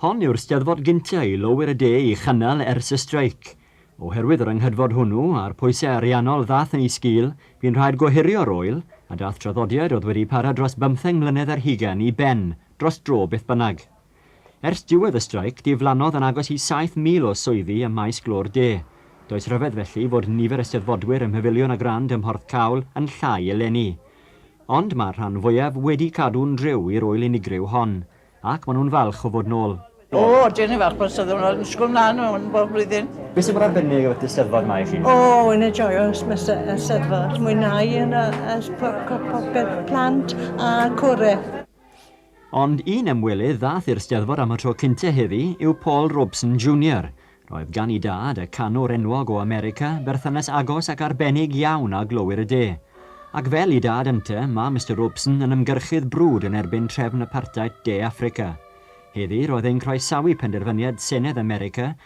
Hon yw'r Steddfod gynta' i lowyr y de i chynnal ers y streic. Oherwydd yr anghydfod hwnnw, a'r pwysau ariannol ddath yn ei sgil, bu'n rhaid gohirio'r ŵyl, a dath traddodiad oedd wedi para dros bymtheng mlynedd ar hugain i ben dros dro beth bynnag. Ers diwedd y streic, diflannodd yn agos i 7,000 o swyddi ym maes glo'r de. Does rhyfedd felly fod nifer y Steddfodwyr ym Mhafiliwn y Grand ym Mhorthcawl yn llai eleni. Ond mae'r rhan fwyaf wedi cadw'n driw i'r ŵyl unigryw hon, ac maen nhw'n falch o fod nôl. O, ydyn ni'n falch bod y Steddfod yma, disgwyl mlaen am hwn bob blwyddyn. Beth sy'n bod arbennig am y Steddfod yma i chi? O, wi'n enjoio y Steddfod, mwynhau popeth, plant a cwrw. Ond un ymwelydd ddath i'r Steddfod am y tro cynta heddi yw Paul Robeson Junior. Roedd gan i dad, y canwr enwog o America, berthynas agos ac arbennig iawn â glowyr y de. Ac fel i dad ynte, mae Mister Robeson yn ymgyrchydd brwd yn erbyn trefn apartheid De Affrica. Heddi, roedd e'n croesawu penderfyniad Senedd America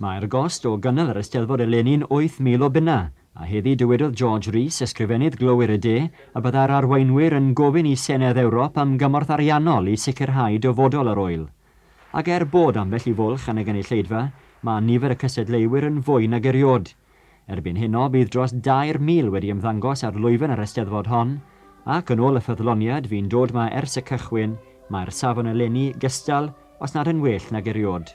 Mae'r gost o gynnal yr Eisteddfod eleni'n 8,000 o bunnau, a heddi dywedodd George Rees, Ysgrifennydd Glowyr y De, y byddai'r arweinwyr yn gofyn i Senedd Ewrop am gymorth ariannol i sicrhau dyfodol yr ŵyl. Ac er bod ambell i fwlch yn y gynulleidfa, mae nifer y cystadleuwyr yn fwy nag eriod. Erbyn heno, bydd dros 2,000 wedi ymddangos ar lwyfan yr Eisteddfod hon, ac yn ôl y ffyddloniad fu'n dod 'ma ers y cychwyn, mae'r safon eleni gystal, os nad yn well nag eriod.